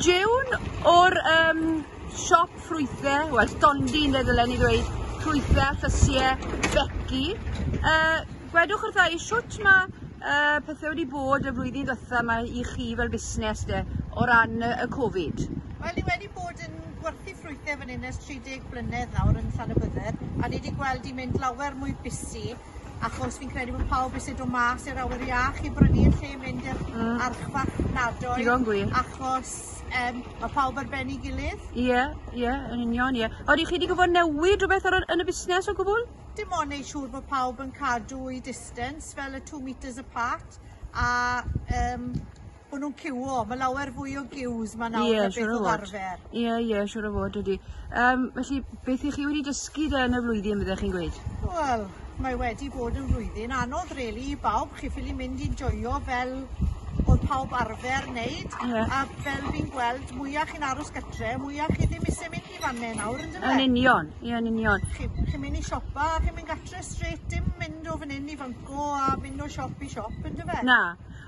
June o'r um, siop ffrwythau, wel, dondi yn ddylen ni ddweud, ffrwythau, llysiau, becu. Uh, gwedwch wrtha i siwt mae uh, pethau wedi bod y flwyddyn ddytha yma i chi fel busnes de, o ran uh, y Covid? Wel, ni wedi bod yn gwerthu ffrwythau fan hyn ers 30 blynedd nawr yn Llanybydder, a ni wedi gweld i mynd lawer mwy busi Achos fi'n credu bod pawb isie do' mas i'r awyr iach i brynu yn lle mynd i'r... Hmm. ...archfarchnadoedd. Digon gwir. Achos yym ma' pawb ar ben 'i gilydd. Ie ie yn union ie. Odi chi 'di gwbod newid rwbeth ar y yn y busnes o gwbwl? Dim ond neu' siŵr bo' pawb yn cadw'u distance fel y two metres apart a yym bo' nw'n ciwio ma' lawer fwy o giws ma' nawr... Ie siŵr o fod. ...na beth odd arfer. Ie ie siŵr o fod ydi. Yym felly beth 'ych chi wedi dysgu de yn y flwyddyn fyddech chi'n gweud? Wel mae wedi bod yn flwyddyn anodd rili i bawb chi ffili mynd i joio fel o'dd pawb arfer neud. Ie. A fel fi'n gweld mwya chi'n aros gytre mwya chi ddim isie mynd i fane nawr on'd yfe? Yn union ie yn union. Chi chi'n myn' i siopa a chi'n mynd gatre strêt dim mynd o fan 'yn i fan 'co a myn' o siop i siop on'd yfe? Na.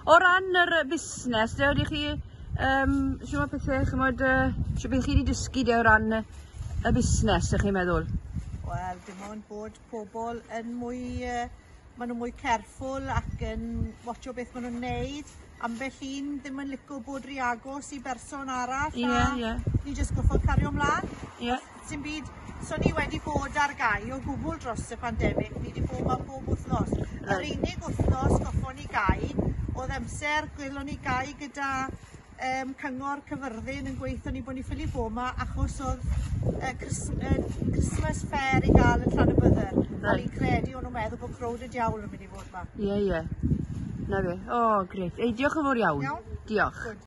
O ran yr yy busnes de ydych chi yym shwt ma' pethe ch'mod yy shwt be' chi 'di dysgu de o ran yy y busnes 'ych chi'n meddwl? Wel dim ond bod pobl yn mwy yy ma' nw mwy careful ac yn watsio beth ma' nw'n neud ambell un ddim yn lico bod ry agos i berson arall a... Ie ie. ...ni jyst gorffod cario mlan. Ie. Sim byd. So ni wedi bod ar gau o gwbl dros y pandemig, ni wedi bod ma bob wythnos. Right. Yr unig wythnos goffon ni gau oedd amser gwelon ni gau gyda um, cyngor cyfyrddin yn gweithio ni bod ni ffili bod yma achos oedd uh, Christmas fair i gael yn Llan y Bydder. Right. A ni'n credu o'n nhw'n meddwl bod crowd y diawl yn mynd i fod yma. Ie, yeah, ie. Yeah. Na fe. O, oh, greit. Ei, diolch yn fawr iawn. Iawn. Diolch. Good.